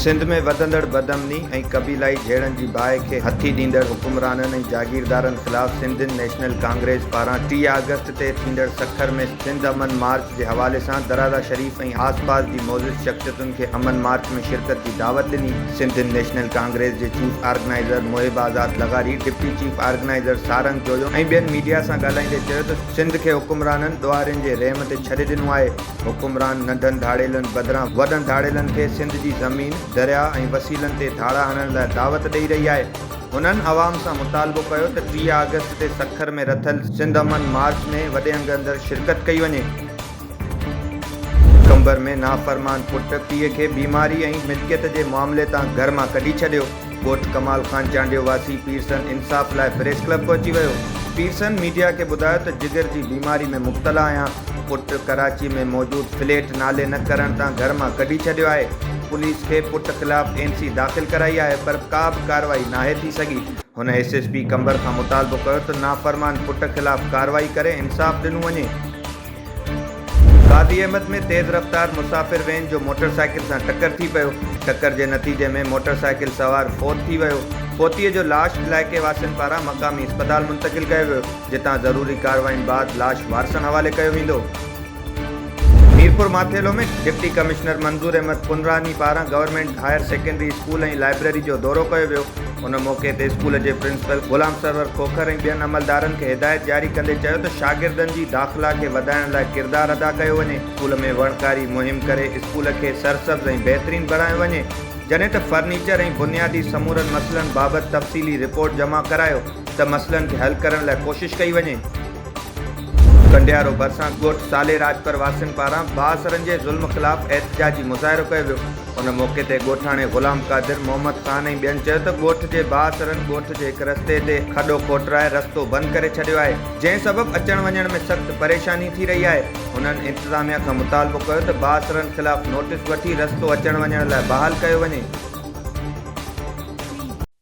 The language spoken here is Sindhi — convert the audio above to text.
سنڌ ۾ وڌندڙ بدامني ۽ قبيلائي جهيڙن جي باهه کي هٿي ڏيندڙ حڪمرانن ۽ جاگيردارن خلاف سنڌين نيشنل ڪانگريس پاران ٽيهه آگسٽ تي ٿيندڙ سکر ۾ سنڌ امن مارچ جي حوالي سان درازا شريف ۽ آس پاس جي معزز شخصيتن کي امن مارچ ۾ شرڪت جي دعوت ڏني. سنڌ نيشنل ڪانگريس جي چيف آرگنائيزر محب آزاد لغاري، deputy chief organizer Sarang Joyo ۽ ٻين ميڊيا سان ڳالهائيندي چيو ته سنڌ کي حڪمرانن ڏوهارين جي رحم تي ڇڏي ڏنو آهي، حڪمران ننڍن ڌاڙيلن بدران وڏن ڌاڙيلن کي سنڌ جي زمين، درياهه ۽ وسيلن تي ڌاڙا هڻڻ لاء دعوت ڏئي رهي آهي. هنن عوام سان مطالبو ڪيو ته ٽيهه آگسٽ تي سکر ۾ رٿيل سنڌ امن مارچ ۾ وڏي انگ اندر شرڪت ڪئي وڃي. قمبر ۾ نافرمان پٽ پيء کي بيماري ۽ ملڪيت جي معاملي تان گهر مان ڪڍي ڇڏيو، ڳوٺ ڪمال خان چانڊيو واسي پيرسن انصاف لاء پريس ڪلب پهچي ويو، پيرسن ميڊيا کي ٻڌايو ته جگر جي بيماري ۾ مبتلا آهيان، پٽ ڪراچي ۾ موجود فليٽ نالي نه ڪرڻ تان گهر مان ڪڍي ڇڏيو آهي، پوليس کي پٽ خلاف اين سي داخل ڪرائي آهي پر ڪا به ڪارروائي ناهي ٿي سگهي، هن ايس ايس پي قمبر کان مطالبو ڪيو ته نافرمان پٽ خلاف ڪارروائي ڪري انصاف ڏنو وڃي. غازي احمد ۾ تيز رفتار مسافر وين جو موٽر سائيڪل سان ٽڪر ٿي پيو، ٽڪر جي نتيجي ۾ موٽر سائيڪل سوار فوت ٿي ويو، فوتيء جو لاش علائقي واسين پاران مقامي اسپتال منتقل ڪيو ويو. جتان ضروري ڪاررواين بعد لاش وارثن حوالي ڪيو ويندو. ميرپور ماٿيلو ۾ ڊپٽي ڪمشنر منظور احمد پنراني پاران government higher secondary school ۽ library جو دورو ڪيو ويو، ان موقعي تي اسڪول جي پرنسپل غلام سرور کوکر ۽ ٻين عملدارن کي هدايت جاري ڪندي چيو ته شاگردن جي داخلا کي وڌائڻ لاء ڪردار ادا ڪيو وڃي، اسڪول ۾ وڻڪاري مهم ڪري اسڪول کي سرسبز ۽ بهترين بڻايو وڃي، جڏهن ته فرنيچر ۽ بنيادي سمورن مسئلن بابت تفصيلي رپورٽ جمع ڪرايو. ته مسئلن کي حل ڪرڻ لاء ڪوشش ڪئي وڃي. ڪنڊيارو ڀرسان ڳوٺ سالي راڄپر واسين پاران بااثرن جي ظلم خلاف احتجاجي مظاهرو ڪيو ويو. ان موقعي تي ڳوٺاڻي غلام قادر، محمد خان ۽ ٻين چيو ته ڳوٺ جي بااثرن ڳوٺ جي هڪ رستي تي کڏو کوٽرائي رستو بند ڪري ڇڏيو آهي، جنهن سبب اچڻ وڃڻ ۾ سخت پريشاني ٿي رهي آهي. هنن انتظاميا کان مطالبو ڪيو ته بااثرن خلاف نوٽيس وٺي رستو اچڻ وڃڻ لاء بحال ڪيو وڃي.